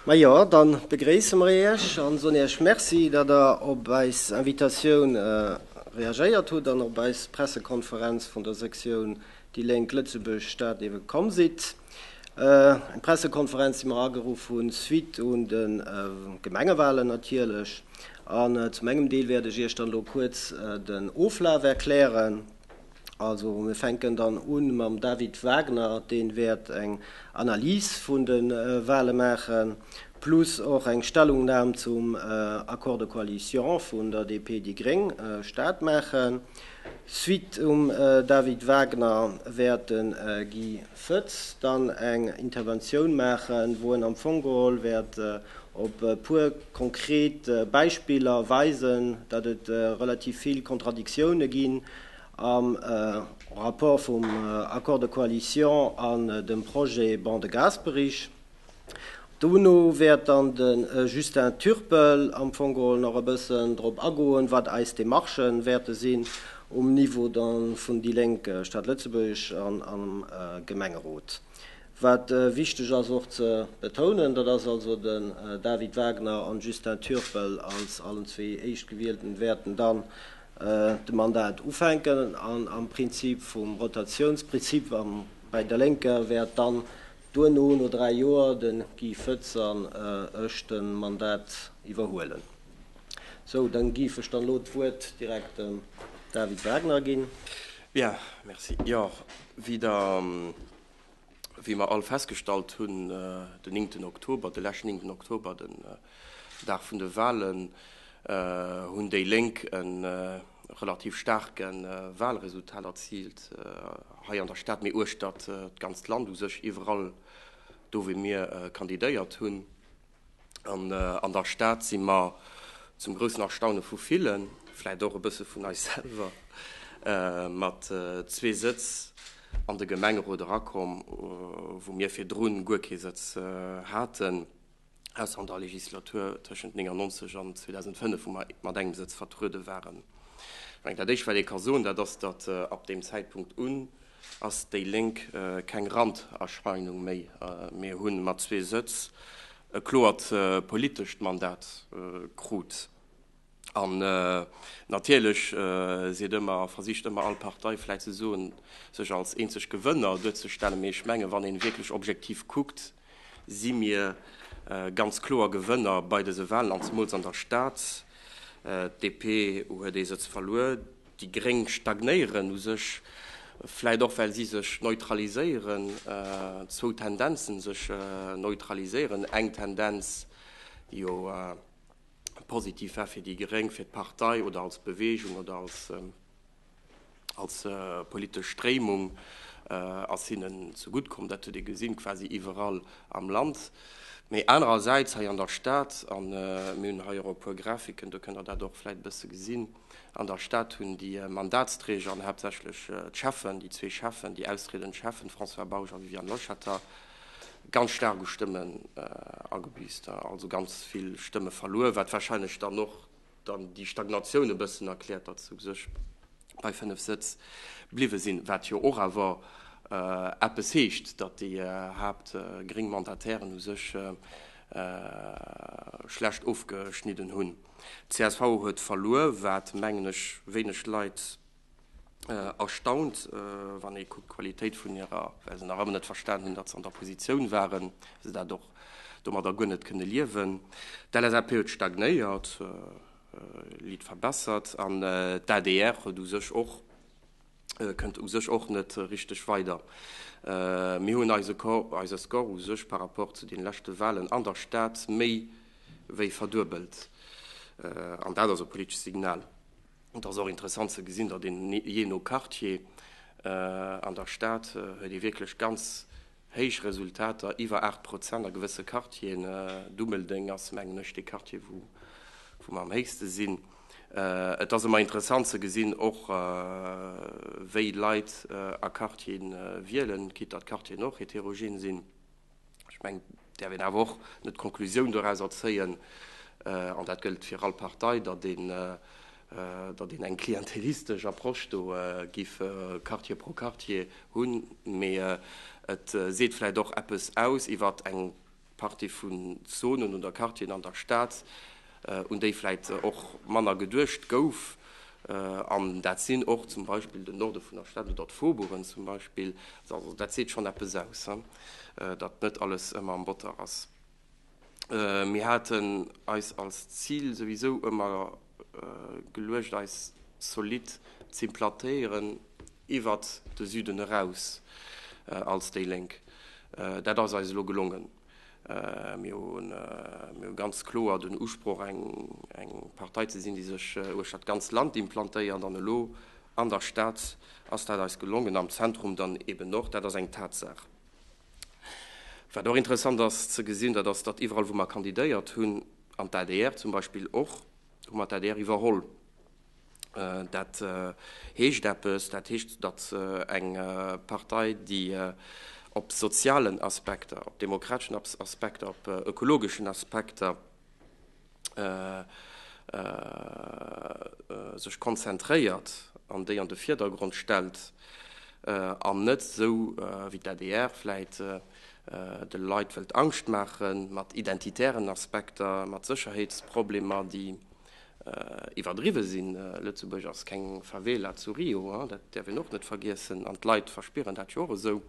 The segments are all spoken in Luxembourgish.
Majo, dann begréisse mer Iech an soen Iech Merci, datt Der op eis Invitatioun reagéiert hutt an op eis Pressekonferenz vun der Sektioun déi Lénk Lëtzebuerg Stad ewe komm sidd. Eng Pressekonferenz déi mer ageruff hunn suite un de Gemengewalen natierlech. An zum engem Deel wäert ech Iech dann elo kuerz den Oflaf erklären. Also mir fänken dann un mam David Wagner, deen wäert eng Analyse vun den Wahlen maachen, plus och eng Stellungnahm zum Accord de coalition vun der DP, déi Gréng, Stad maachen. Suite um David Wagner wäert den Guy Fëth dann eng Interventioun maachen, wou en am Fong geholl wäert op e puer konkret Beispiller weisen, datt et relativ vill Contradictione ginn am Rapport vum Accord de coalition an dem Projet Ban de Gasperi. Dono wäert dann de Justin Turpel am Fong geholl nach e bëssen drop agoen, wat eis Demarchen wäerte sinn um Niveau da vun déi Lénk, Stad Lëtzebuerg an am Gemengerot. Wat wichteg ass och ze betounen, dat ass also, den David Wagner an Justin Turpel als allen zwee Éischtgewielten wäerten dann de Mandat ufänken an am Prinzip vum Rotatiounsprinzip am bei der Lénker wäert dann Duerno, no dräi Joer, de Guy Foetz an ech de Mandat iwwerhuelen. Sou, dann giff ech dann elo d'Wuert direkt dem David Wagner ginn. Bien, merci. Jo, wéi Der, wéi mer all festgestallt hunn, den néngten Oktober, de leschten néngten Oktober, den Dag vun de Wahlen, hunn déi Lénk en, relativ staarke Wahlresultat erziilt, hei an der Stad, mee uechter d'ganzt Land u sech, iwwerall do wou mir kandidéiert hunn. An an der Stad si mer zum groussen Erstaune vu villen, vläicht och e bësse vun eis selwer, mat zwee Sëtz an de Gemengerot erakomm, wou mir virdrun guer kee Sëtz haten. ausser an der Legislatur tëschent 1999 an 2005, wou mer mat engem Sëtz vertruede waren. Ech mengen, dat Éischt, wat ee ka soen, dat ass, datt ab deem Zäitpunkt un ass déi Lénk keng Randerscheinung méi. Mir hu mat zwee Sëtz e kloert politescht Mandat krut. An natierlech seet ëmmer, versicht ëmmer all Partei vläit ze soen, sech als eenzeg Gewënner duerzestellen. Mee ech menge wann een wierklech objektiv kuckt, si mir ganz kloer Gewënner bei dëse Wahlen an zemools an der Stad. D'DP huet ee Sëtz verluer, déi Gréng stagnéieren u sech, vläit och well si sech neutraliséieren, zwou Tendenzen sech neutraliséieren, eng Tendenz jo, positiv war fir déi Geréng, fir d'Partei oder als Beweegung oder als politesch Stréimung, ass hinnen zegutt komm. Dat huet ee gesinn, quasi iwwerall am Land. Mee anerersäits hei an der Stad, a mir hunn hei och e puer Grafiken, do kënnt Der dat och vläicht e bësse gesinn, an der Stad hunn déi Mandatsträger an haaptsächlech d'Schäffen, déi zwee Schäffen, déi austriedend Schäffen, François Bausch a Viviane Loschetter, ganz staark u Stëmmen agebiisst, also ganz vill Stëmme verluer, wat warscheinlech dann och dann déi Stagnatioun e bëssen erkläert, datt se u sech bei 5 Sëtz bliwwe sinn, wat jo och awer eppes heescht, datt déi haapt gréng Mandatairen u sech schlecht ofgeschnidden hunn. D'CSV huet verluer, wat mengen ech wéineg Leit erstaunt, wann ee kuckt d'Qualitéit vun hirer, well se nach ëmmer net verstanen hunn, datt se an der Positioun waren, wéi se dat och domadder guer net kënne liewen. D'LSAP huet stagnéiert, lit verbessert, an d'ADR huet u sech och, kënnt u sech och net richteg weider. Mir hunn eise Score, eise Score u sech par rapport zu den leschte Wahlen an der Stad méi wéi verduebelt, an dat ass e politescht Signal. Et ass och interessant ze gesinn, datt een, jee no Quartier an der Stad, huet ee wierklech ganz héich Resultater, iwwer 8 Prozent a gewësse Quartieren. Dummeldeng ass, mengen ech, dee Quartier, wou mer am héchste sinn. Et ass ëmmer interessant ze gesinn och, wéi Leit a Quartiere wielen, quitte datt d'Quartieren och heterogen sinn. Ech mengen, et däerf een awer och net d'Konklusioun dorauser zéien, an dat gëllt fir all Partei, datt een eng klientelistesch Approche do giff Quartier pro Quartier hunn, mee et seet vläicht och eppes aus iwwer eng Partie vun Zonen oder Quartieren an der Stad, un déi vläit och manner geduecht gouf, an dat sinn och zum Beispill den Norde vun der Stad oder d'Faubourgen zum Beispill, also dat seet schonn eppes aus, datt net alles ëmmer am Botter ass. Mir haten eis als Zil souwisou ëmmer geluecht eis zolidd z'implantéieren iwwert de Süden eraus als déi Lénk. Dat ass eis elo gelongen. Mir hu ganz kloer den Usproch, eng Partei ze sinn, déi sech uecht dat ganz Land implantéiert. An elo an der Stad ass dat eis gelongen, am Zentrum dann eben och. Dat ass eng Tatsaach. Wat och interessant ass ze gesinn, dat ass, datt iwwerall, wou mer kandidéiert hunn, an d'ADR zum Beispill och, hu mer d'ADR iwwerholl. Dat heescht eppes. Dat heescht, datt eng Partei, déi op sozialen Aspekter, op demokrateschen Aspekter, op ökologeschen Aspekter sech konzentréiert an déi an de Virdergrond stellt, an net esou wéi d'ADR vläit de Leit wëllt Angscht maache mat identitären Aspekter, mat Sécherheetsproblemer, déi Iwwerdriwwe sinn, Lëtzebuerg ass keng Favela zu Rio, dat däerf een och net vergiessen, an d'Leit verspieren dat jo och esou,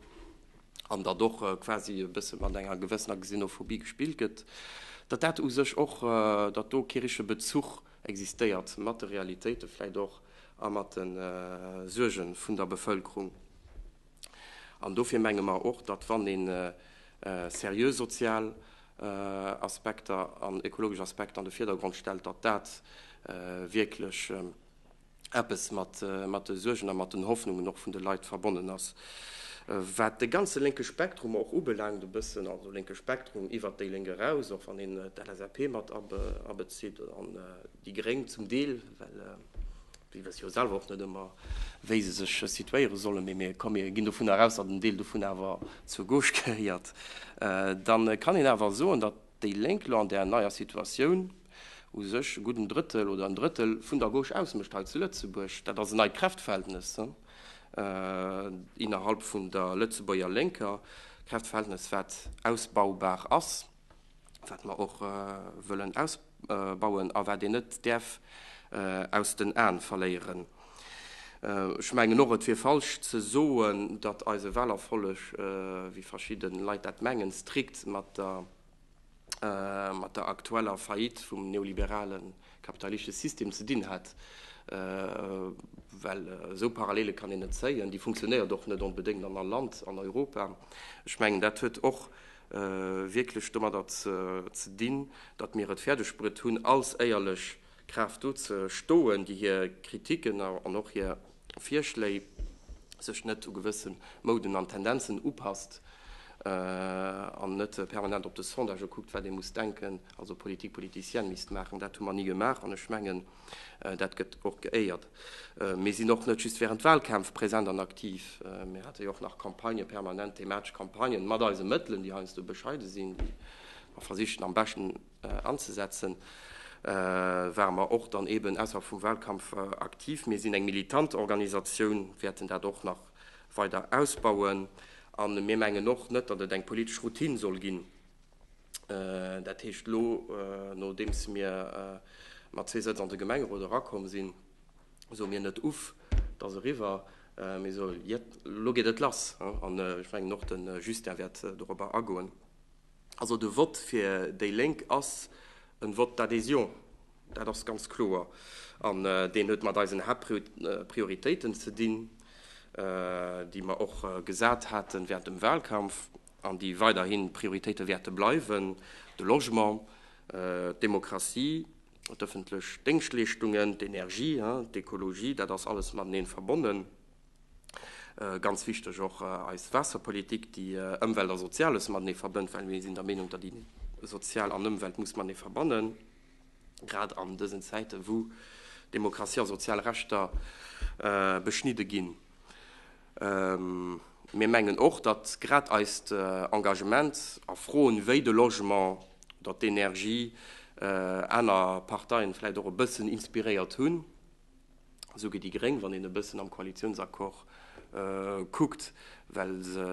an datt och quasi e bësse mat enger gewëssener Xenophobie gespillt gëtt, datt dat u sech och, datt do kee richtege Bezuch existéiert mat de Realitéite vläicht och a mat de Suerge vun der Bevëlkerung. An dofir menge mer och, datt, wann ee seriö sozial Aspekter an ökologesch Aspekter an de Virdergrond stellt, datt dat wierklech eppes mat de Suergen a mat den Hoffnungen och vun de Leit verbonnen ass. Wat de ganze lénke Spektrum och ubelaangt, e bëssen, also lénke Spektrum iwwert déi Lénk eraus, och wann een d'LSAP mat abezitt, Déi Gréng zum Deel, well si wësse jo selwer och net ëmmer, wéi se sech situéiere sollen. Mee mir kommen, mir ginn dovunner eraus, datt en Deel dovun awer zur Gauche gehéiert. Da kann een awer soen, datt déi Lénk elo an där neier Situatioun u sech e gudden Drëttel oder en Drëttel vun der Gauche ausmécht hei zu Lëtzebuerg. Dat ass en neit Kräftverhältnes innerhalb vun der Lëtzebuerger Lénker, e Kräftverhältnes, wat ausbaubar ass. wat mer och wëllen ausbauen a wat een net däerf aus den Aen verléieren. Ech mengen och, et wier falsch ze soen, datt eise Wahlerfolleg, wéi verschidde Leit dat mengen, strikt mat der aktueller Faillite vum neoliberale kapitalistische System ze dinn hätt, well esou Parallele kann een net zéien. Déi funktionéiert och net onbedéngt an all Land an Europa. Ech mengen, dat huet och wierklech domadder ze dinn, datt mir et fäerdegbruet hunn, als éierlech Kraaft do ze stoen, déi hir Kritiken an och hir Virschléi sech net u gewësse Mouden an Tendenzen upasst an net permanent op de Sondagë kuckt, wat ee muss denken, also Politique politicienne misst maachen. Dat hu mer ni gemaach an ech mengen, Dat gëtt och geéiert. Mir sinn och net just während Wahlkämpf präsent an aktiv. Mir hate jo och nach Campagnë, permanent thematesch Campagnen, mat eise Mëttelen, déi heiansdo bescheide sinn, déi mer versichen am beschten anzesetzen, ware mer och dann eeben ausserhalb vum Wahlkampf aktiv. Mir sinn eng militant Organisatioun, wäerten dat och nach weider ausbauen. A mir mengen och net, datt et eng politesch Routine soll ginn. Dat heescht, elo nodeems mir mat zwee Sëtz an de Gemengerot erakomm sinn, soe mir net, Uff, 't ass eriwwer, mee soe, Jett, elo geet et lass! An ech mengen, och de Justin wäert dorobber agoen. Also de Vott fir déi Lénk ass e Vott d'adhésion, dat ass ganz kloer. An deen huet mat eisen Haaptprioritéiten ze dinn, déi mer och gesat haten während dem Wahlkampf. an déi weiderhi Prioritéite wäerte bleiwen, de Logement, d'Demokratie, d'ëffentlech Déngschtleeschtungen, d'Energie, d'Ekologie, dat ass alles mateneen verbonnen, ganz wichteg och eis Waasserpolitik, déi Ëmwelt a Soziales matenee verbënnt, well mir sinn der Meenung, datt ee Sozial an Ëmwelt muss matenee verbannen, grad an dësen Zäiten, wou Demokratie a sozial Rechter beschnidde ginn. Mir mengen och, datt grad eist Engagement a Froen wéi de Logement oder d'Energie aner Parteien vläit och e bëssen inspiréiert hunn, esou wéi déi Gréng, wann een e bëssen am Koalitiounsaccord kuckt, well se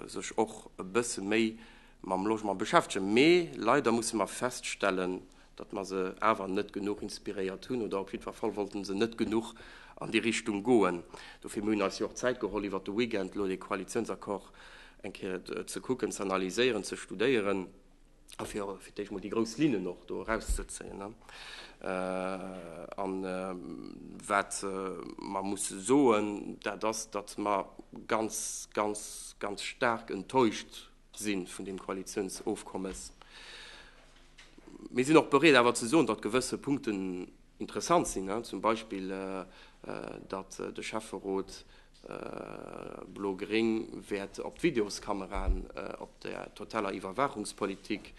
sech och e bësse méi Mam Logement beschäftegen. Mee leider musse mer feststellen, datt mer se awer net genuch inspiréiert hunn oder op jiddwer Fall wollte se net genuch an déi Richtung goen. Dofir, mir hunn eis jo och Zäit geholl iwwert de Weekend elo dee Koalitionsaccord eng Kéier ze kucken, ze analyséieren, ze studéieren a fir fir d'éischt mol déi grouss Linnen och do erauszezéien. An wat mer musse soen, dat ass, datt mer ganz, ganz, ganz staark enttäuscht Sinn vun deem Koalitionsofkommes. Mir sinn och bereet awer ze soen, datt gewësse Punkten interessant sinn, zum Beispill datt de Schäfferot blo-gréng wäert op d'Videoskameraen, op der totaler Iwwerwaachungspolitik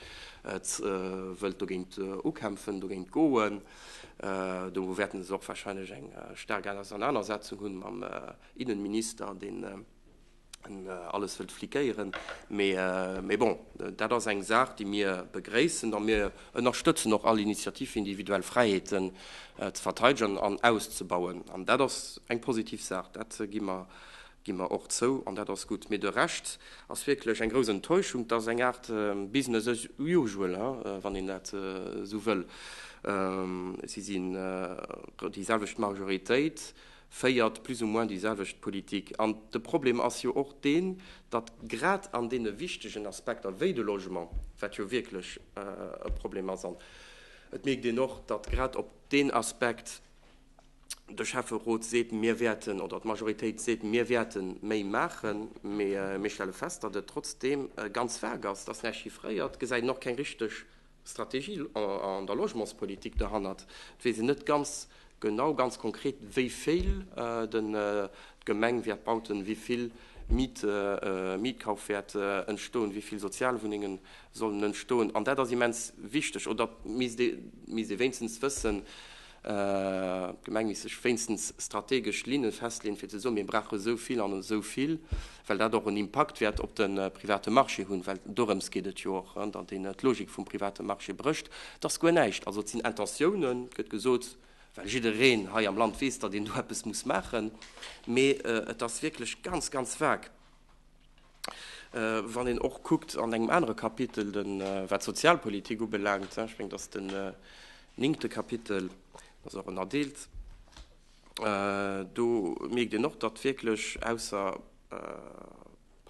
wëllt dogéint ukämpfen, dogéint goen. Do wäerten se och wahrscheinlech eng staark Ausernanersetzung hu mam Innenminister, deen Alles wëllt flikéieren. Mee bon, dat ass eng Saach, déi mir begréissen. A mir ënnerstëtzen och all Initiativ, fir individuell Fräiheeten ze verteidegen an auszebauen. An dat ass eng positiv Saach, dat gi mer och zou. An dat ass gutt. Mee de Rescht ass wierklech eng grouss Enttäuschung. Dat ass eng Aart business as usual, wann een dat esou wëll. Si si déi selwecht Majoritéit. féiert plus ou moins déi selwecht Politik. An de Problem ass jo och deen, datt grad an deene wichtegen Aspekter wéi de Logement, wat jo wierklech e Problem ass, an et mierkt een och, datt grad op deen Aspekt de Schäfferot seet, mir wäerten, oder d'Majoritéit seet, mir wäerte méi maachen, mee mir stelle fest, datt et trotzdeem ganz vag ass, et ass näischt chiffréiert, gesäit een och keng richteg Strategie an der Logementspolitik derhannert. Et weess een net ganz genau, ganz konkret, wéivill d'Gemeng wäert bauten, wéivill Mietkauf wäert entstoen, wéivill Sozialwunnengen sollen entstoen. An dat ass immens wichteg, oder misst ee wéinstens wëssen, D'Gemeng misst sech wéinstens strategesch Linne festleeën, fir ze soen, mir brauche sou vill an esou vill, well dat och en Impakt wäert op de private Marché hunn, well dorëms geet et jo och, datt een d'Logik vum private Marché brécht. Et ass guer näischt. Also et sinn Intentiounen, gëtt gesot, well jiddereen hei am Land weess, datt een do eppes muss maachen, mee et ass wierklech ganz, ganz vague. Wann een och kuckt an engem anere Kapitel, wat d'Sozialpolitik ubelaangt, ech mengen, dat ass den néngte Kapitel, dat ass och ënnerdeelt, do mierkt een och, datt wierklech ausser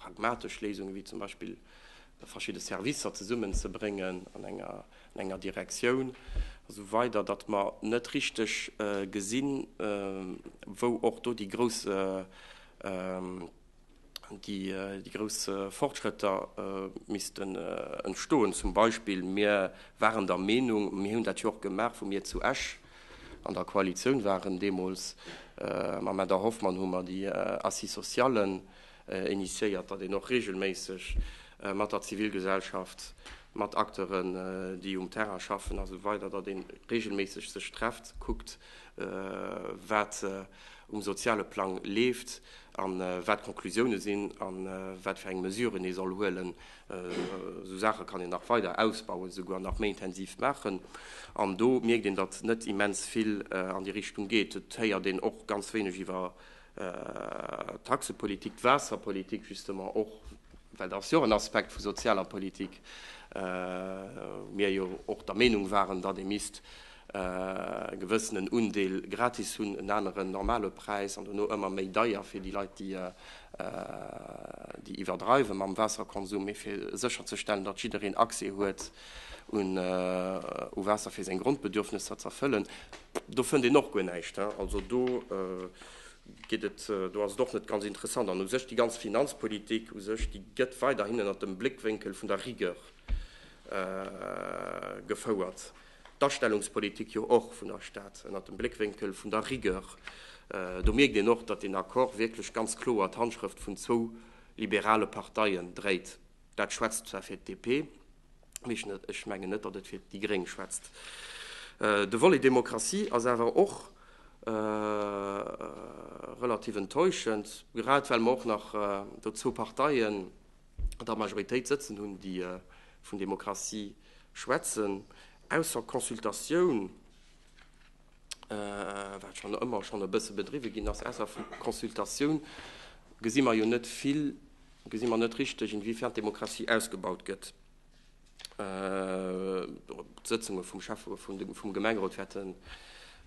pragmatesch Léisungen, wéi zum Beispill verschidde Servicer zesummenzebréngen an enger Direktioun a sou weider, datt mer net richteg gesinn, wou och do déi grouss déi grouss Fortschrëtter missten entstoen. Zum Beispill, mir waren der Meenung, mir hunn dat jo och gemaach, wou mir zu Esch an der Koalitioun waren deemools, mam Här Dar Hoffmann hu mer déi Assises sociales initiéiert, datt een och reegelméisseg mat der Zivilgesellschaft, mat Acteuren, déi um Terrain schaffen a sou weider, datt ee reegelméisseg sech trefft, kuckt, wat um soziale Plang leeft a wat d'Conclusioune sinn a wat fir eng Mesuren ee soll huelen. Esou Saache kann een nach weider ausbauen, esouguer nach méi intensiv maachen. An do mierkt een, datt net immens vill an déi Richtung geet. Et héiert een och ganz wéineg iwwer d'Taxepolitik, d'Waasserpolitik justement och, well dat ass jo och en Aspekt vu sozialer Politik, wou mir jo och der Meenung waren, datt ee misst gewëssenen Undeel gratis hunn, en aneren normale Präis an dono ëmmer méi deier fir déi Leit, déi iwwerdreiwe mam Waasserkonsum. Mee fir sécherzestellen, datt jiddereen Accès huet u Waasser fir seng Grondbedürfnesser z'erfëllen, do fënnt een och guer näischt. Also do geet et, do ass et och net ganz interessant. An u sech déi ganz Finanzpolitik u sech, déi gëtt weiderhin ënnert dem Bléckwénkel vun der Rigueur gefouert. d'Astellungspolitik jo och vun der Stad ënnert dem Bléckwénkel vun der Rigueur. Do mierkt een och, datt deen Accord wierklech ganz kloer d'Handschrëft vun zwou liberale Parteien dréit. Dat schwätzt zwar fir d'DP, mee ech mengen net, datt et fir déi Gréng schwätzt. De Volet Demokratie ass awer och relativ enttäuschend, grad well mer och nach do zwou Parteien, der Majoritéit sëtzen hunn, déi vun Demokratie schwätzen, ausser Consultatioun, wat schonn ëmmer schonn e bësse bedriwwe ginn ass, ausser Consultatioun gesi mer jo net vill, gesi mer net richteg, inwiefern d'Demokratie ausgebaut gëtt. D'Sëtzunge vum Schäffe vum Gemengerot wäerten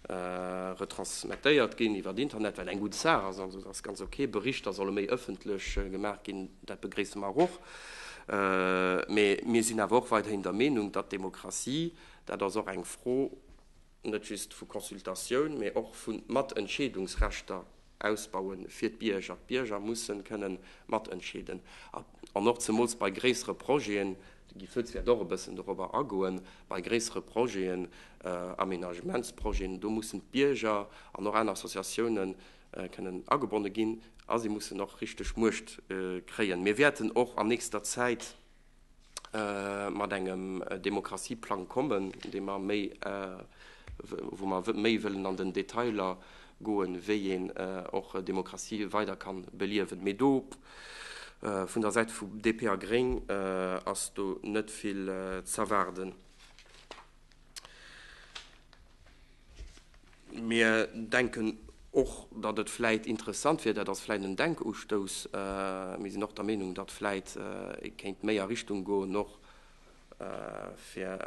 retransmettéiert ginn iwwer Internet, wat eng gutt Saach ass. Also et ass ganz ok. Berichter solle méi ëffentlech gemaach ginn, dat begréisse mer awer och. Mee mir sinn awer och weiderhin der Meenung, datt d'Demokratie, dat ass och eng Fro net just vu Consultatioun, mee och vu Matentscheedungsrechter Ausbauen fir d'Bierger. D'Bierger mussen kënnen matentscheeden an och zemools bei gréissere Projeten, de Guy Foetz wäert och e bëssen dorobber agoen, bei gréissere Projeten, Aménagementsprojeten, do mussen d'Bierger an och aner Associatiounen kënnen agebonne ginn a si mussen och richteg Muecht kréien. Mir wäerten och an nächster Zäit. mat engem Demokratieplang kommen, dee mer méi, wou mer méi wëllen an den Detailer goen, wéi een och Demokratie weider kann beliewen. Mee do vun der Säit vu DP a Gréng ass do net vill z'erwaarden. Mir denken och, datt et vläit interessant wier, dat ass vläit en Denkustouss, mir sinn och der Meenung, datt vläit ee kéint méi a Richtung goen och fir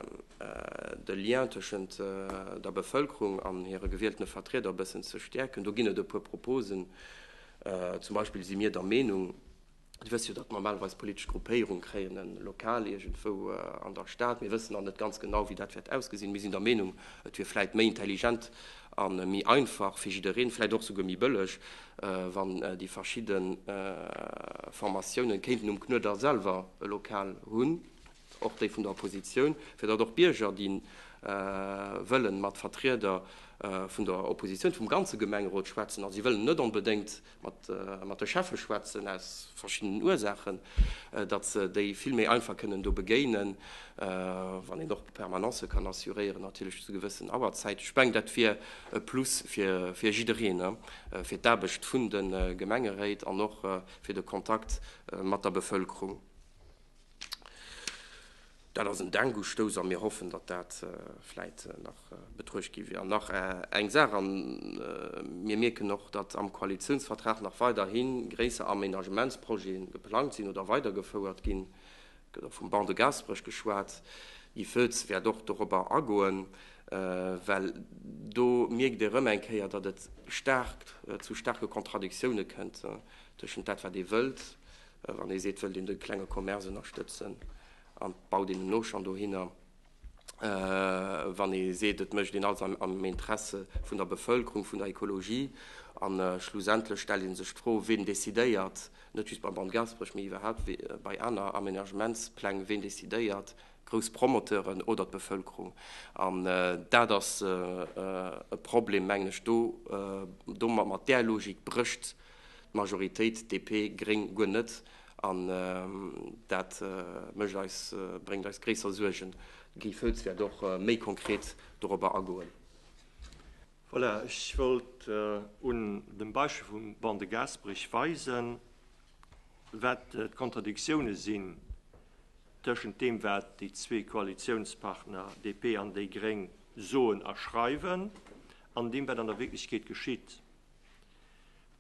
de Lien tëschent der Bevëlkerung an hire gewieltene Vertrieder e bëssen ze stäerken. Do ginn et e puer Proposen. Zum Beispill si mir der Meenung, Dir wësst jo, datt normalerweis politesch Gruppéierunge kréien e Lokal iergendwou an der Stad. Mir wëssen nach net ganz genau, wéi dat wäert ausgesinn. Mir sinn der Meenung, et wier vläicht méi intelligent a méi einfach fir jiddereen, vläicht och souguer méi bëlleg, wann déi verschidde Formatiounen kéinten um Knuedler selwer e Lokal hunn, och déi vun der Oppositioun, fir datt och d'Bierger, déi wëlle mat Vertrieder vun der Oppositioun, vum ganze Gemengerot schwätzen a si wëllen net onbedéngt, mat de Cheffe schwätzen, aus verschiddenen Ursaachen, datt se déi vill méi einfach kënnen do begéinen, wann een och Permanencë kann assuréieren, natierlech zu gewëssen Auerzäiten. Ech mengen, dat wier e Plus fir jiddereen, fir d'Aarbecht vun de Gemengeréit an och fir de Kontakt mat der Bevëlkerung. Dat ass en Denkustoss a mir hoffen, datt dat vläit nach betruecht gi wier. An nach eng Saach, a mir mierken och, datt am Koalitiounsvertrag nach weiderhi gréisser Aménagementsprojete geplangt sinn oder weidergefouert ginn. Et gëtt och vum Banc de Gaasperech geschwat. Guy Foetz wäert och dorobber agoen, well do mierkt ee erëm eng Kéier, datt et staark zu staarke Kontradiktioune kënnt tëschent dat, wat ee wëllt, Wann ee seet, wëllt een de klenge Commerce ënnerstëtzen an baut een en Auchan dohinner, wann ee seet, et mécht een alles am Interesse vun der Bevëlkerung, vun der Ekologie, a schlussendlech stellt ee sech d'Fro, ween decidéiert, net just beim Bann Gaasperech, mee iwwerhaapt bei aner Amenagementspläng, ween decidéiert, grouss Promoteuren oder d'Bevëlkerung? An dat ass e Problem, mengen ech, do, mat där Logik brécht D'Majoritéit, DP, Gréng, guer net, an dat mécht eis, bréngt eis gréisser Suergen. De Guy Foetz wäert och méi konkret dorobber agoen. Voilà, ech wollt un dem Beispill vum Banc de Gasperich weisen, wat d'Kontradiktiounen sinn tëschent deem, wat déi zwee Koalitiounspartner, DP an déi Gréng, soen a schreiwen, an deem, wat an der Wierklechkeet geschitt.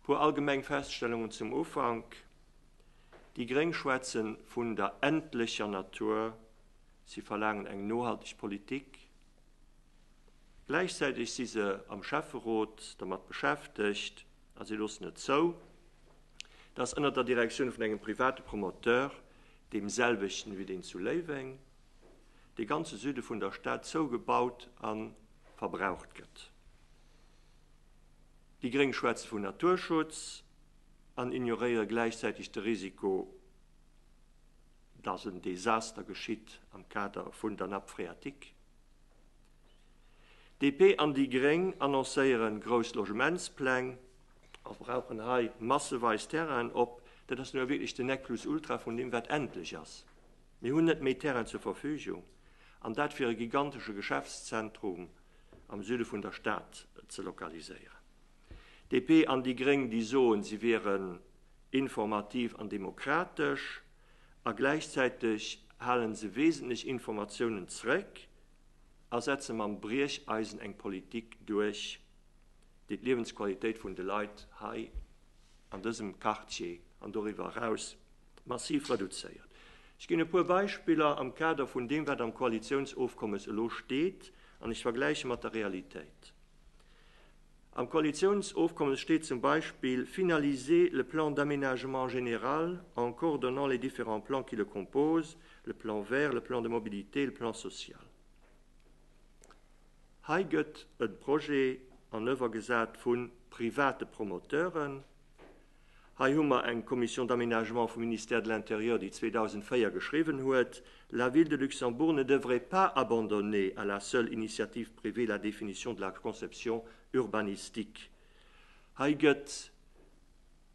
E puer allgemeng Feststellungen zum Ufank, Déi gréng schwätzen vun der endlecher Natur, si verlaangen eng nohalteg Politik. Gläichzäiteg si se am Schäfferot dermat beschäftegt a si loossen et zou, datt ënnert der Direktioun vun engem private Promoteur, deemselwechten wéi deen zu Léiweng, de ganze Süde vun der Stad zougebaut a verbraucht gëtt. Déi gréng schwätze vun Naturschutz an ignoréiere gläichzäiteg de Risiko, datt en Desaster geschitt am Kader vun der Nappe phréatique. DP an déi gréng annoncéiere grouss Logementspläng a brauchen hei masseweis Terrainen op. Dat ass jo wierklech den Necplus ultra vun deem wat endlech ass. Mir hunn net méi Terrain zur Verfügung, an dat fir e gigantesche Geschäftszentrum, am Süde vun der Stad ze lokaliséieren. DP an déi Gréng, déi soen, si wieren informativ an demokratesch, a gläichzäiteg halen se wesentlech Informatiounen zréck a setze mam Briecheisen eng Politik duerch, déi d'Liewensqualitéit vun de Leit hei an dësem Quartier an doriwwer eraus massiv reduzéiert. Ech ginn e puer Beispiller am Kader vun deem, wat am Koalitiounsofkommes elo steet, an ech vergläiche mat der Realitéit. Am Koalitiounsofkommes steet zum Beispill, Finaliser le plan d'aménagement général en coordonnant les différents plans qui le composent, le plan vert, le plan de mobilité, le plan social. Hei gëtt e Projet an ëwwergesat vu private Promoteuren, Hei hu mer eng Commission d'aménagement vum Ministère de l'Intérieur, déi 2004 geschriwwen huet, La Ville de Luxembourg ne devrait pas abandonner à la seule initiative privée la définition de la conception urbanistique. Hei gëtt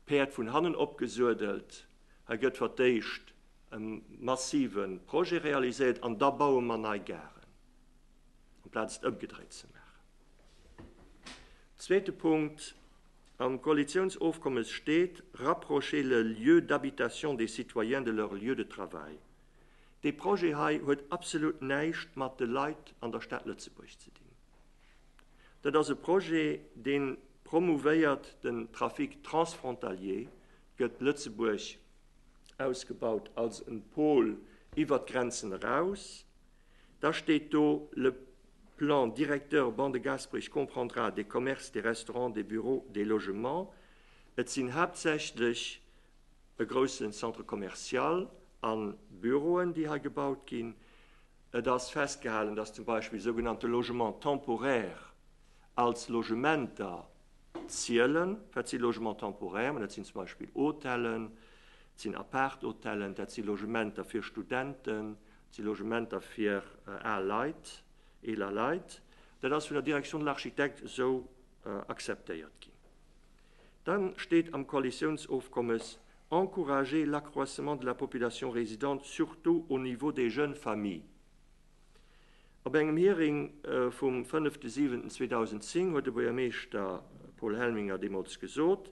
d'Päerd vun hannen opgesuedelt. Hei gëtt fir d'éischt e massive Projet realiséiert an da baue mer nei Garen, amplaz et ëmgedréit ze maachen. Zweete Punkt, Am Koalitiounsofkommes steet, rapprocher le lieu d'habitation des citoyens de leur lieu de travail. Dee Projet hei huet absolut näischt mat de Leit an der Stad Lëtzebuerg ze dinn. Dat ass e Projet, dee promouvéiert den Trafic transfrontalier, gëtt Lëtzebuerg ausgebaut als e Pôle iwwert d'Grenzen eraus, Da steet do, Le plan directeur Ban de Gasperich comprendra des commerces, des restaurants, des bureaux, des logements. Et sinn haaptsächlech e groussen Centre commercial a Büroen, déi hei gebaut ginn. Et ass festgehalen, dass zum Beispill sougenannte Logements temporaires als Logementer zielen. Wat si Logements temporaires? Dat sinn zum Beispill Hotellen, dat sinn Apart-Hotellen, dat si Logementer fir Studenten, Dat si Logementer fir al Leit, eeler Leit. Dat ass vun der Direction de l'architecte esou akzeptéiert ginn. Da steet am Koalitiounsofkommes, Encourager l'accroissement de la population résidente, surtout au niveau des jeunes familles. Op engem Hearing vum 5.7.2010 huet de Buergermeeschter Paul Helminger deemools gesot,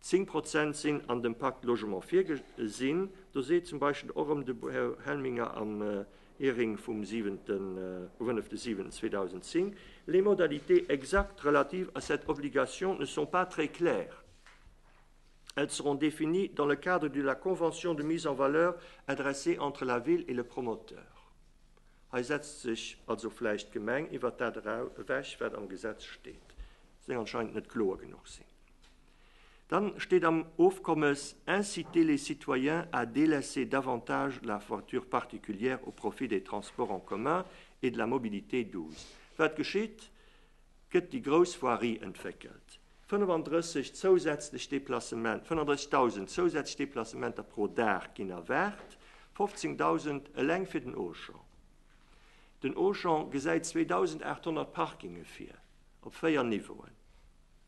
Zéng Prozent sinn an dem Pacte Logement virgesinn. Do seet zum Beispill och erëm de Här Helminger am Hearing vum 7 5 2010, Les modalités exactes relatives à cette obligation ne sont pas très claires. Elles seront définies dans le cadre de la convention de mise en valeur adressée entre la Ville et le promoteur. Hei setzt sech also vläicht d'Gemeng iwwert dat ewech, wat am Gesetz steet. Soll anscheinend net kloer genuch sinn. Dann steet am Ofkommes, Inciter les citoyens à délaisser davantage la voiture particulière au profit des transports en commun et de la mobilité douce. Wat geschitt? Gëtt déi grouss Voirie entwéckelt, 35 zousätzlech Deplacement, 35.000 zousätzlech Deplacementer pro Dag ginn erwaart, 15.000 eleng fir den Auchan. Den Auchan gesäit 2.800 Parkinge vir op véier Niveauen.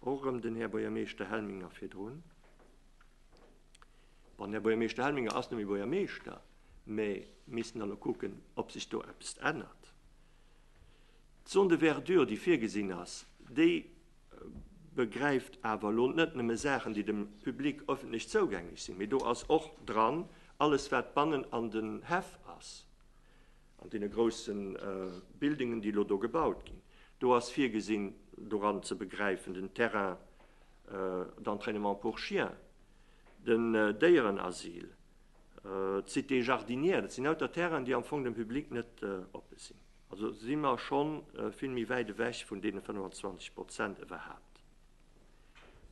Och erëm den Här Buergermeeschter Helminger virdrun. Bon, den Här Buergermeeschter Helminger ass net méi Buergermeeschter, mä missten elo kucken, ob sech do eppes ännert. D'Zone de verdure, déi virgesinn ass, déi begräift awer elo net nëmme Saachen, déi dem Public öffentlech zougänglech sinn, mä do ass och dran alles, wat bannen an den Häff ass. An deene grousse Buildingen, déi elo do gebaut ginn, do ass virgesinn, doran ze begräifen, den Terrain d'entrainement pour chiens, den Déierenasyl, d'Cité jardinière, dat sinn lauter Terrainen, déi am Fong dem Public net oppe sinn. Also si mer scho vill méi wäit ewech vun deene 25 Prozent iwwerhaapt.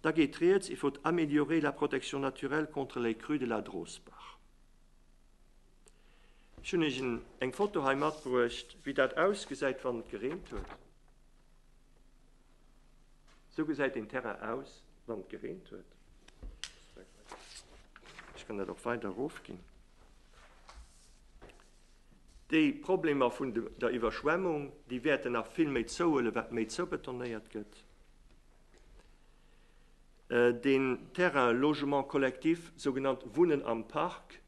Da geet Rieds iwwert améliorer la protection naturelle contre les crues de la Drosbach. Ech hun iech eng Foto hei matbruecht wéi dat ausgesäit wann et gereent huet. Sou gesäit een Terrain aus wann et gereent huet. Ech kann dat och weider rof ginn. Déi Problemer vun der Iwwerschwemmung déi wäerten nach vill méi zouhuelen wat méi zoubetonéiert gëtt. Deen Terrain Logement collectif, sougenannt Wunnen am Park,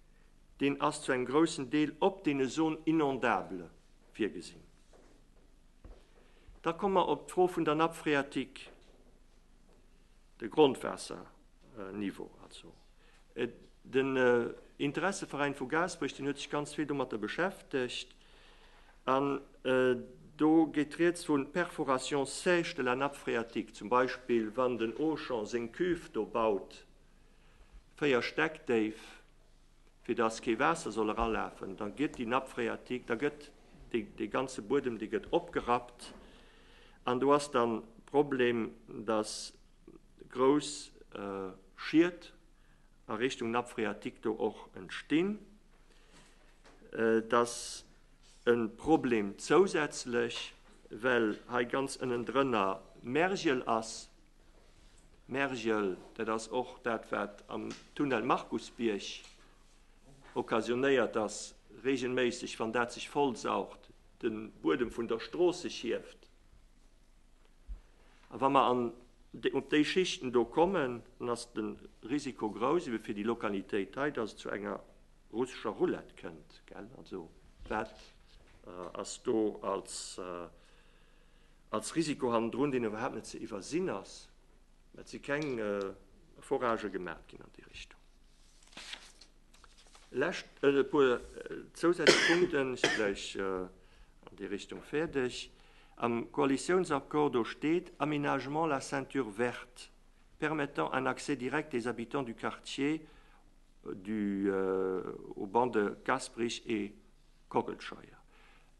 Deen ass zu engem groussen Deel op deene Zones inondables virgesinn. Da komme mer op d'Fro vun der Nappe phréatique, de Grondwaasserniveau. Also den Interesseveräin vu Gaasperech, deen huet sech ganz vill domatter beschäftegt an do geet Rieds vu Perforation sèche de la nappe phréatique, zum Beispill wann den Auchan seng Cuve do baut, 4 Stäck déif, fir dass kee Waasser soll eralafen. Da gëtt déi Nappe phréatique, da gëtt dee ganze Buedem, dee gëtt opgerappt. An do ass dann Problem, dass grouss Schied a Richtung Nappe phréatique do och entstinn. Et ass e Problem zousätzlech, well hei ganz ënnendrënner Mergel ass, Mergel, dat ass och dat wat am Tunnel Markusbierg occasionéiert ass, regelméisseg wann dat sech vollsaugt, de Buedem vun der Strooss sech hieft. A wa mer an op déi Schichten do kommen, dann ass de Risiko grouss, ebe fir déi Lokalitéit hei, datt et zu enger russescher Roulette kënnt. Also wat ass do als als Risiko hannendrun, deen iwwerhaapt net ze iwwersinn ass, mä et si keng Efforage gemaach ginn an déi Richtung. E lescht puer zousätzlech Punkten, ech si gläich an déi Richtung fäerdeg. Am Koalitiounsaccord do steet, Aménagement la ceinture verte permettant un accès direct des habitants du quartier du aux bancs de Gasperich et Kockelscheier.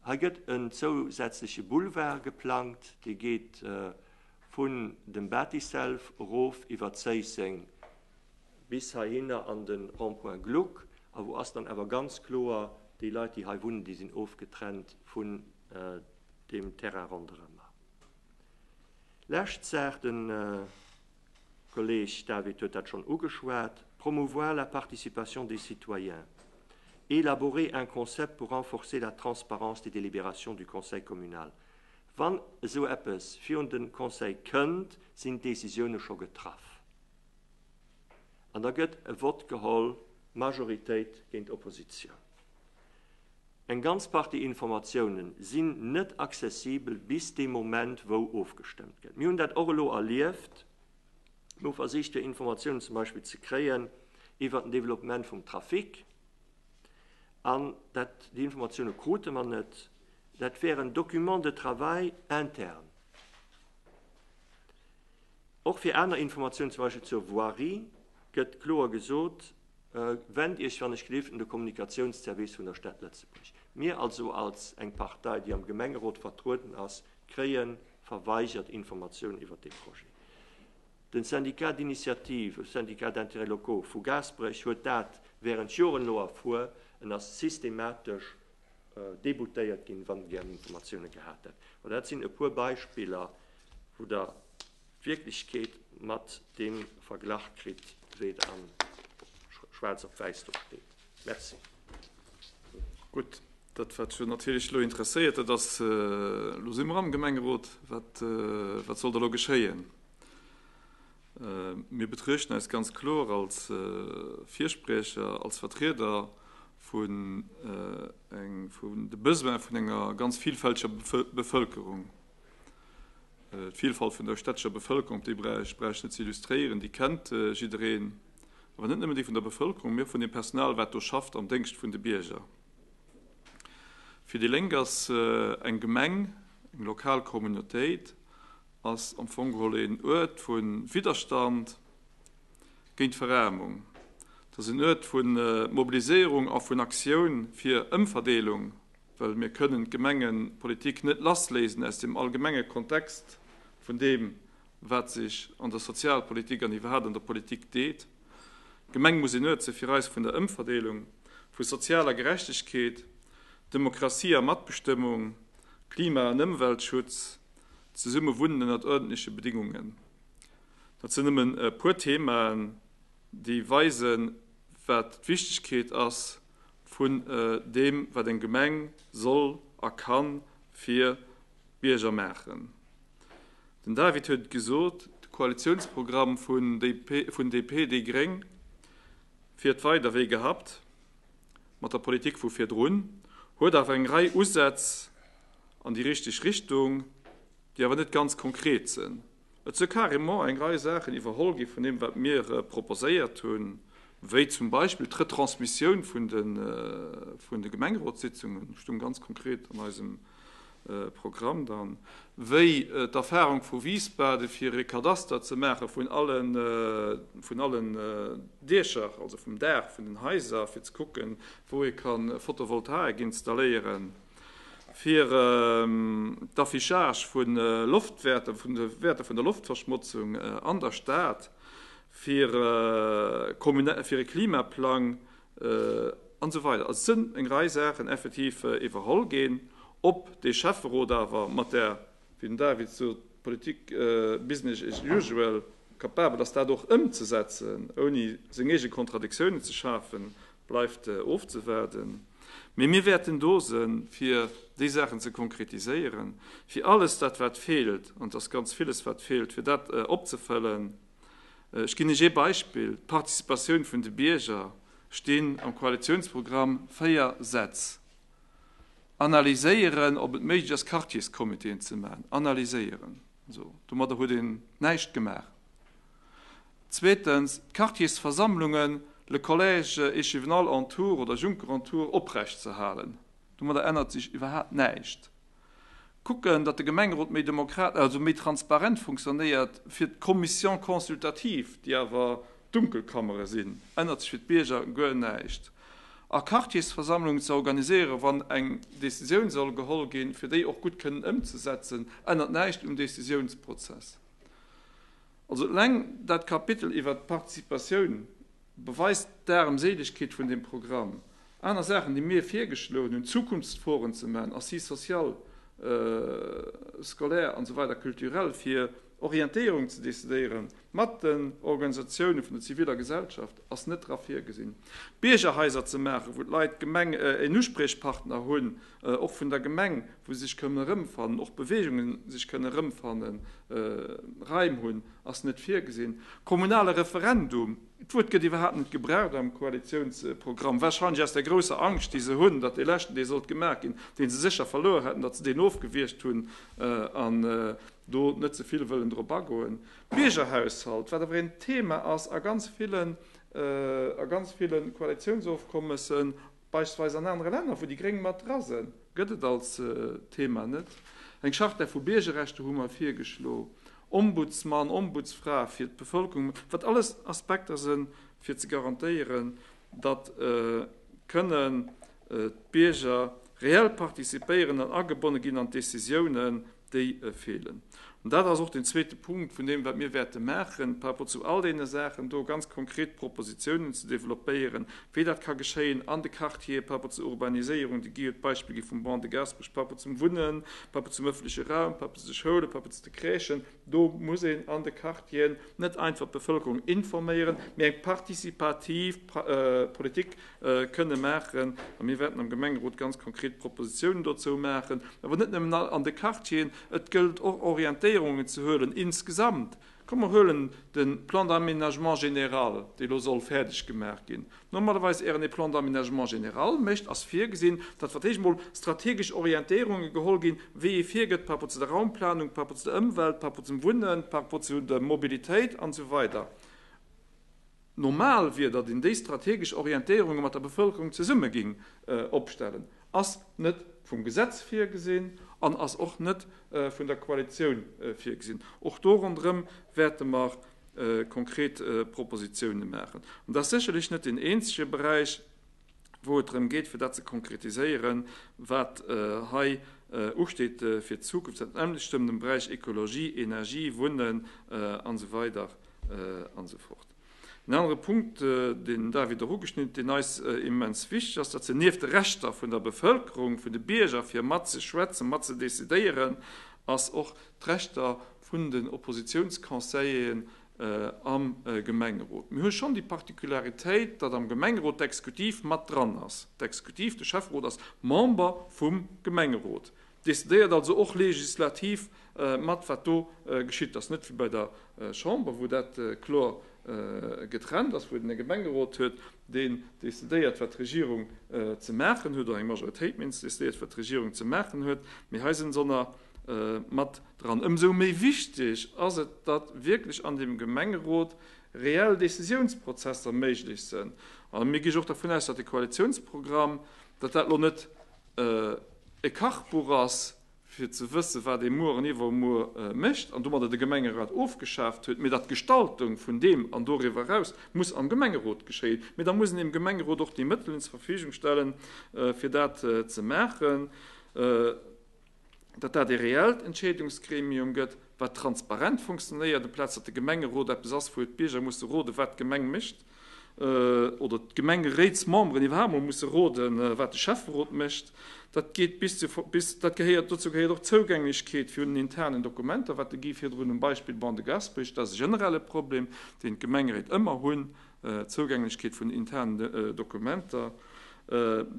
Hei gëtt en zousätzleche Boulevard geplangt, dee geet vun dem Bathyself erof iwwer Zéisseng bis heihinner an de Rond-point Gluck. A wou ass dann awer ganz kloer, déi Leit, déi hei wunnen, déi sinn ofgetrennt vun deem Terrain ronderëmmer. Lescht Saach, de De Kolleeg David huet dat schonn ugeschwat, Promouvoir la participation des citoyens, élaborer un concept pour renforcer la transparence des délibérations du conseil communal. Wann esou eppes virun de Conseil kënnt, sinn d'Décisioune scho getraff an da gëtt e Vott geholl, Majoritéit géint Oppositioun. Eng ganz Partie Informatioune sinn net accessibel bis dee Moment, wou ofgestëmmt gëtt. Mir hunn dat och elo erlieft. Mir hu versicht, fir Informatiounen zum Beispill ze kréien iwwert den Développement vum Trafic, an dat, déi Informatioune krute mer net. Dat wär en Document de travail interne, och fir aner Informatiounen, zum Beispill zur Voirie gëtt kloer gesot, Wend Iech, wann ech gelift, un de Kommunikatiounsservice vun der Stad Lëtzebuerg. Mir also als eng Partei, déi am Gemengerot vertrueden ass, kréie verweigert Informatiounen iwwert dee Projet. De Syndicat d'initiative, Syndicat d'intérêts locaux, vu Gaasperech huet dat während Joren elo erfuer. En ass systematesch déboutéiert ginn, wann en gär Informatiounen gehat hätt. Mä dat sinn e puer Beispiller, wou Der d'Wierklechkeet mat deem verglach kritt, wéi et am schwaarz op wäiss do steet. Merci. Gutt, dat wat jo natierlech elo interesséiert, dat ass, elo si mer am Gemengerot, wat soll da elo geschéien? Mir betruechten eis ganz kloer als Virspriecher, als Vertrieder vun de Besoin vun enger ganz vilfälteger Bevëlkerung. D'Vielfalt vun der städtescher Bevëlkerung, op déi brauch ech net ze illustréieren, déi kennt jiddereen. Awer net nëmmen déi vun der Bevëlkerung, mee och vun dem Personal, wat do schafft am Déngscht vun de Bierger. Fir déi Lénk ass eng Gemeng, eng lokal Communautéit, ass am Fong geholl een Uert vu Widderstand géint d'Veraarmung. Et ass een Uert vu Mobiliséierung a vun Aktioun fir Ëmverdeelung Well mir kënnen d'Gemengepolitik net lassléisen aus dem allgemenge Kontext vun deem, wat sech an der Sozialpolitik an iwwerhaapt an der Politik deet. D'Gemeng muss een Uert si fir eis vun der Ëmverdeelung, vu sozialer Gerechtegkeet, Demokratie a Matbestëmmung, Klima an Ëmweltschutz, zesumme wunnen ënnert uerdentleche Bedingungen. Dat sinn nëmmen e puer Themaen, déi weisen, wat d'Wichtegkeet ass, vun deem wat eng Gemeng soll a kann fir d'Bierger maachen. Den David huet et gesot, de Koalitiounsprogramm vun DP, déi gréng fiert weider wéi gehabt mat der Politik vu virdrun, huet awer eng Rei Usätz an déi richteg Richtung, déi awer net ganz konkret sinn. Et sou carrément eng Rei Saachen iwwerholl gi vun deem, wat mir proposéiert hunn, wéi zum Beispill d'Retransmissioun vun de Gemengerotssitzungen, stoung ganz konkret an eisem Programm dann, wéi d'Erfahrung vu Wiesbaden, fir e Kadaster ze maache vun allen Diecher, also vum Daach vun den Haiser, fir ze kucken, wou ee ka Photovoltaik installéieren. fir d'Affichage vu Loftwäerter, vun de Wäerter vun der Loftverschmotzung an der Stad, fir e Klimaplang an esou weider. Also et sinn eng Rei Saachen effektiv iwwerholl ginn. Ob dee Schäfferot awer mat där, wéi den David sot, Politik business as usual kapabel ass dat och ëmzesetzen, ouni seng eege Kontradiktiounen ze schafen, Bleift ofzewaarden. Mee mir wäerten do se fir déi Saachen ze konkretiséieren, fir alles dat wat feelt, an et ass ganz villes wat feelt, fir dat opzefëllen. Ech ginn Iech ee Beispill, d'Participatioun vun de Bierger, stinn am Koalitiounsprogramm véier Sätz. Analyséieren ob et méiglech ass Quartierscomitéen ze maachen. Analyséieren. Esou. Domadder huet een näischt gemaach. Zweetens, d'Quartiersversammlungen, le collège échivenal en tour oder Juncker en tour, oprecht ze halen. Domadder ännert sech iwwerhaapt näischt. Kucken, datt de Gemengerot méi demokrat-, also méi transparent funktionéiert, fir d'Commissions consultatives, déi awer Dunkelkammere sinn, ännert sech fir d'Bierger guer näischt. A Quartiersversammlungen ze organiséieren, wann eng Décisioun soll geholl ginn, fir déi och gutt kënnen ëmzesetzen, ännert näischt um Décisiounsprozess. Also eleng dat Kapitel iwwert d'Participatioun beweist d'Aarmséilegkeet vun deem Programm. Aner Saachen, déi mir virgeschloen hunn, Zukunftsforen ze maachen, Assises sociales, scolaires an esou weider, culturelles, fir Orientéierung ze decidéieren mat den Organisatiounen vun der ziviler Gesellschaft, ass net dra virgesinn. Biergerhaiser ze maachen, wou d'Leit, d'Gemeng, een Uspriechpartner hunn, och vun der Gemeng, wou sech kënnen erëmfannen, och Beweegunge sech kënnen erëmfannen, Raim hunn, ass net virgesinn. Kommunale Referendum, d'Wuert gëtt iwwerhaapt net gebraucht am Koalitiounsprogramm, warscheinlech aus der grousser Angscht, déi se hunn, datt dee leschten, dee sollt gemaach ginn, dee se sécher verluer hätten, datt se deen ofgewiergt hunn an do net ze vill wëllen drop agoen. Biergerhaushalt, wat awer een Thema ass a ganz villen, a ganz ville Koalitiounsofkommessen, Beispillsweis an anere Länner, wou déi Gréng mat dra sënn. Gëtt et als Thema net. Eng Charta vu Biergerrechter hu mer virgeschlo, Ombudsmann, Ombudsfra fir d'Bevëlkerung, wat alles Aspekter sënn, fir ze garantéieren, datt kënnen d'Bierger reell participéieren an agebonne ginn an d'Décisiounen, déi feelen. An dat ass och deen zweete Punkt vun deem, wat mir wäerte maachen par rapport zu all deene Saachen do, ganz konkret Propositionen ze développéieren, wéi dat ka geschéien an de Quartiere par rapport zur Urbaniséierung. De Guy huet d'Beispill gi vum Ban de Gaasperech par rapport zum Wunnen, par rapport zum öffentleche Raum, par rapport zu de Schoulen, par rapport zu de Crèchen. Do muss een an de Quartieren net einfach d'Bevölkerung informéieren, mee eng participativ Politik kënne maachen a mir wäerten am Gemengerot ganz konkret Propositionen dozou maachen, awer net nëmmen an de Quartieren, et gëllt och Orientéierungen ze huelen insgesamt. Komm mer huelen de Plan d'aménagement général, dee lo soll fäerdeg gemaach ginn. Normalerweis ären ee Plan d'aménagement général mécht, ass virgesinn, datt wat héich emol strategesch Orientéierungen geholl ginn, wéi ee virgëtt par rapport zu der Raumplanung, par rapport zu der Ëmwelt, par rapport zum Wunnen, par rapport zu der Mobilitéit an esou weider. Normal wier, datt een déi strategesch Orientéierunge mat der Bevëlkerung zesumme géing opstellen, ass net vum Gesetz virgesinn an ass och net vun der Koalitioun virgesinn. Och do ronderëm wäerte mer konkret Propositioune maachen. An dat ass sécherlech net deen eenzege Beräich, wou et drëm geet, fir dat ze konkretiséieren, wat hei usteet fir d'Zukunft, dat nämmlechtm dem Beräich Ekologie, Energie, Wunnen an esou weider an esou fort. Een anere Punkt, deen David och ugeschnidden huet, deen eis immens wichteg ass, dat sinn nieft de Rechter vun der Bevëlkerung, vun de Bierger, fir mat ze schwätzen, mat ze decidéieren, ass och d'Rechter vun den Oppositionsconseilleren am Gemengerot. Mir hu schonn déi Particularitéit, datt am Gemengerot d'Exekutiv mat dran ass. D'Exekutiv, de Schäfferot, ass Member vum Gemengerot, decidéiert also och legislativ mat, wat do geschitt. Dat ass net wéi bei der Chamber, wou dat kloer getrennt ass, wou et e Gemengerot huet, deen decidéiert, wat d'Regierung ze maachen huet, oder eng Majoritéit, méi éins, déi decidéiert, wat d'Regierung ze maachen huet. Mee hei sinn se ënner. mat dran. Ëmsou méi wichteg ass et, datt wierklech an deem Gemengerot reell Décisiounsprozesser méiglech sënn. A mir gi jo och dervun aus, datt de Koalitiounsprogramm, datt dat elo net e Kachbuch ass, fir ze wësse wat ee muer an iwwermuer mécht an domadder de Gemengerat ofgeschaaft huet, mee datt d'Gestaltung vun deem an doriwwer eraus muss am Gemengerot geschéien. Mee da muss een dem Gemengerot och déi Mëttelen zur Verfügung stellen, fir dat ze maachen. datt dat ee reellt Entscheedungsgremium gëtt, wat transparent funktionéiert, amplaz datt de Gemengerot eppes ass, wou d'Bierger musse roden, wat d'Gemeng mécht, oder d'Gemengeréitsmemberen iwwerhaapt emol musse roden, wat de Schäfferot mécht. Dat geet bis zu, bis, dat gehéiert, dozou gehéiert och d'Zougänglechkeet vun den internen Dokumenter, wat de Guy virdrun um Beispill Ban de Gaspech, dat ass e generelle Problem, deen d'Gemengeréit ëmmer hunn, Zougänglechkeet vun internen Dokumenter,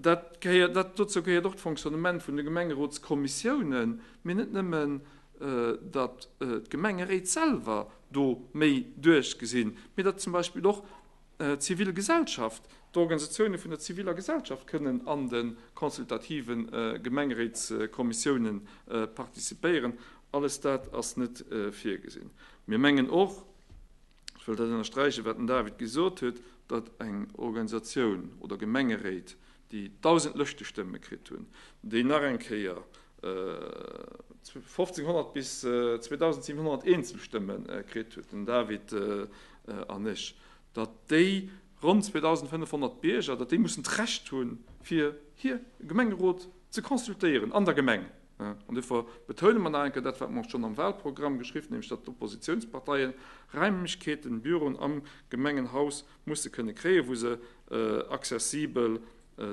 dat gehéiert, dat, dozou gehéiert och d'Fonctionnement vun de Gemengerotskommissiounen, mee net nëmmen, datt d'Gemengeréit selwer do méi duerchgesinn, mee datt zum Beispill och d'zivil Gesellschaft, d'Organisatioune vun der ziviller Gesellschaft kënnen an de consultative Gemengeréitskommissiounen participéieren. Alles dat ass net virgesinn. Mir mengen och, Ech wëll dat ënnersträichen, wat den David gesot huet, datt eng Organisatioun oder Gemengeréit, déi 1.000 Lëschtestëmme kritt hunn, déi nach eng Kéier 1.500 bis 2.700 Eenzelstëmme kritt huet, den David an ech, datt déi ronn 2.500 Bierger, datt déi mussen d'Recht hunn, fir hir Gemengerot ze consultéieren an der Gemeng. An dofir betoune mer nach eng Kéier dat, wat mer och schonn am Wahlprogramm geschriwwen hunn, nämlech datt d'Oppositionsparteien Raimlechkeeten, Büroen am Gemengenhaus musse kënne kréien, wou se accessibel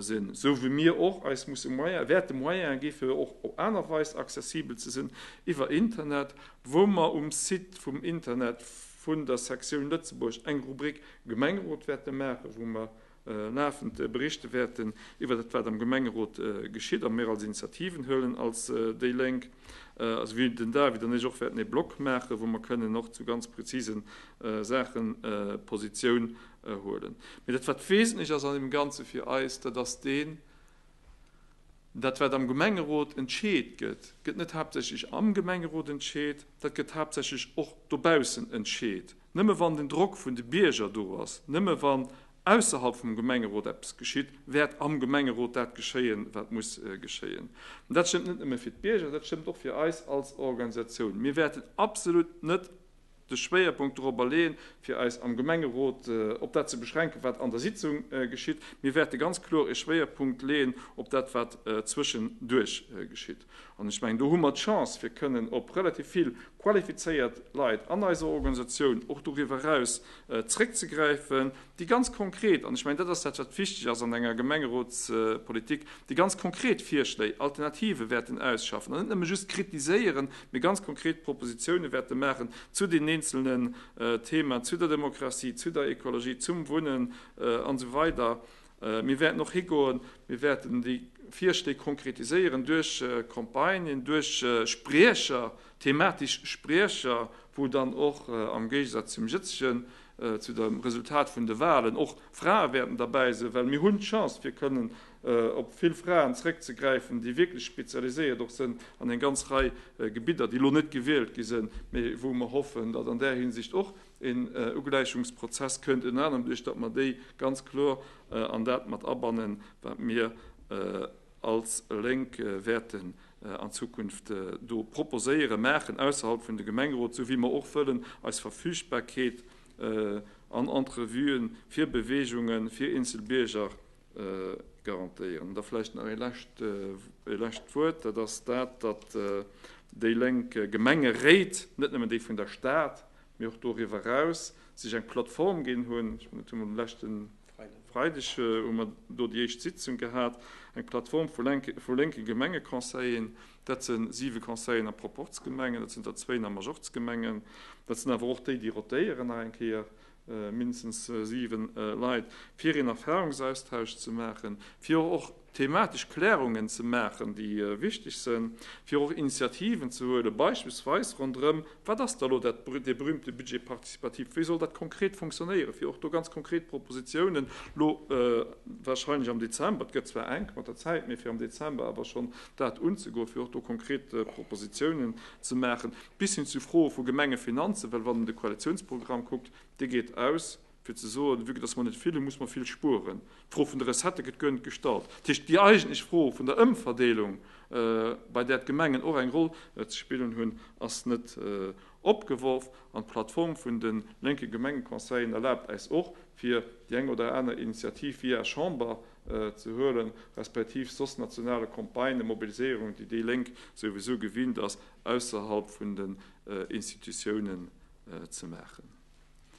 sinn, esou wéi mir och eis musse Moyen, wäerte Moyene gi fir och op aner Weis accessibel ze sinn, iwwer Internet, wou mer um Site vum Internet vun der Sektioun Lëtzebuerg eng Rubrik Gemengerot wäerte maachen, wou mer Lafend Berichte wäerten iwwer dat wat am Gemengerot geschitt a mir als Initiativen huelen als déi Lénk, esouwéi den David an ech och wäerten ee Blog maachen, wou mer kënnen och zu ganz prezise Saache Positioun huelen. Mee dat wat wesentlech ass an deem Ganze fir eis, dat ass deen, dat wat am Gemengerot entscheet gëtt, gëtt net haaptsächlech am Gemengerot entscheet, dat gëtt haaptsächlech och dobaussen entscheet. Nëmme wann den Drock vun de Bierger do ass, nëmme wann ausserhalb vum Gemengerot eppes geschitt, wäert am Gemengerot dat geschéien, wat muss geschéien. An dat stëmmt net nëmme fir d'Bierger, dat stëmmt och fir eis als Organisatioun. Mir wäerten absolut net de Schwéierpunkt dorobber leeën, fir eis am Gemengerot op dat ze beschränken, wat an der Sitzung geschitt. Mir wäerte ganz kloer e Schwéierpunkt leeën op dat, wat zwëschenduerch geschitt. An ech mengen, do hu mer d'Chance, fir kënnen op relativ vill qualifizéiert Leit an eiser Organisatioun, och doriwwer eraus, zréckzegräifen, déi ganz konkret, an ech mengen, dat ass dat, wat wichteg ass an enger Gemengerotspolitik, déi ganz konkret Virschléi, Alternative wäerten ausschaffen an net nëmme just kritiséieren, mee ganz konkret Propositione wäerte maachen zu den eenzelnen Themen, zu der Demokratie, zu der Ekologie, zum Wunnen, an esou weider. Mir wäerten och higoen, mir wäerten déi Virschléi konkretiséieren duerch Campagnen, duerch Spriecher, thematisch Spriecher, wou dann och, am Géigesaz zum jëtzegen, zu dem Resultat vun de Wahlen, och Frae wäerten derbäi sinn, well mir hunn d'Chance, fir kënnen op vill Fraen zrëckzegräifen, déi wierklech spezialiséiert och sinn an eng ganz Rei Gebidder, déi elo net gewielt gi sinn, mee wou mer hoffen, datt an där Hinsicht och, Een Ugläichungsprozess kënnt ënner anerem duerch datt mer déi ganz kloer an dat mat abannen, wat mir als Lénk wäerten an Zukunft do proposéiere maachen ausserhalb vun de Gemengerot, sou wéi mer och wëllen eis Verfügbarkeet an Entrevue fir Beweegunge fir eenzel Bierger garantéieren. An da vläicht nach ee lescht Wuert, dat ass dat, datt déi Lénk Gemengeréit, net nëmmen déi vun der Stad, mee och doriwwer eraus, sech eng Plattform ginn hunn, ech mengen dat hu mer um leschte Freideg hu mer do déi éischt Sitzung gehat, eng Plattform vu lénke Gemengeconseillen, dat se siwe Conseillen a Proporz-Gemengen, dat sinn der zwéin a Majorzgemengen, dat sinn awer och déi, déi rotéieren nach eng Kéier, mindestens siwe Leit, fir een Erfahrungsaustausch ze maachen, fir och thematesch Klärungen ze maachen, déi wichteg sinn, fir och Initiativen ze huelen, beispillsweis ronderëm, Wat ass da elo dat, dee berühmte Budget participatif? Wéi soll dat konkret funktionéieren, fir och do ganz konkret Propositionen elo wahrscheinlech am Dezember, et gëtt zwar enk mat der Zäit, mee fir am Dezember awer schonn dat unzegoen, fir och do konkret Propositionen ze maachen, bis hin zu Froe vu Gemengefinanzen, well wann een de Koalitionsprogramm kuckt, dee geet aus, Fir ze soen, vu que dass mer net vill hunn, muss mer vill spueren. D'Fro vun de Recettë gëtt guer net gestallt. Dat heescht, déi eigentlech Fro vun der Ëmverdeelung, bei där d'Gemengen och eng Roll ze spillen hunn, ass net opgeworf. An d'Plattform vun de lénke Gemengeconseillen erlaabt äis och, fir déi eng oder aner Initiativ via Chamber ze huelen, respektiv soss nationale Campagnen, Mobiliséierungen, déi déi Lénk souwisou gewinnt ass, ausserhalb vun den Institutiounen ze maachen.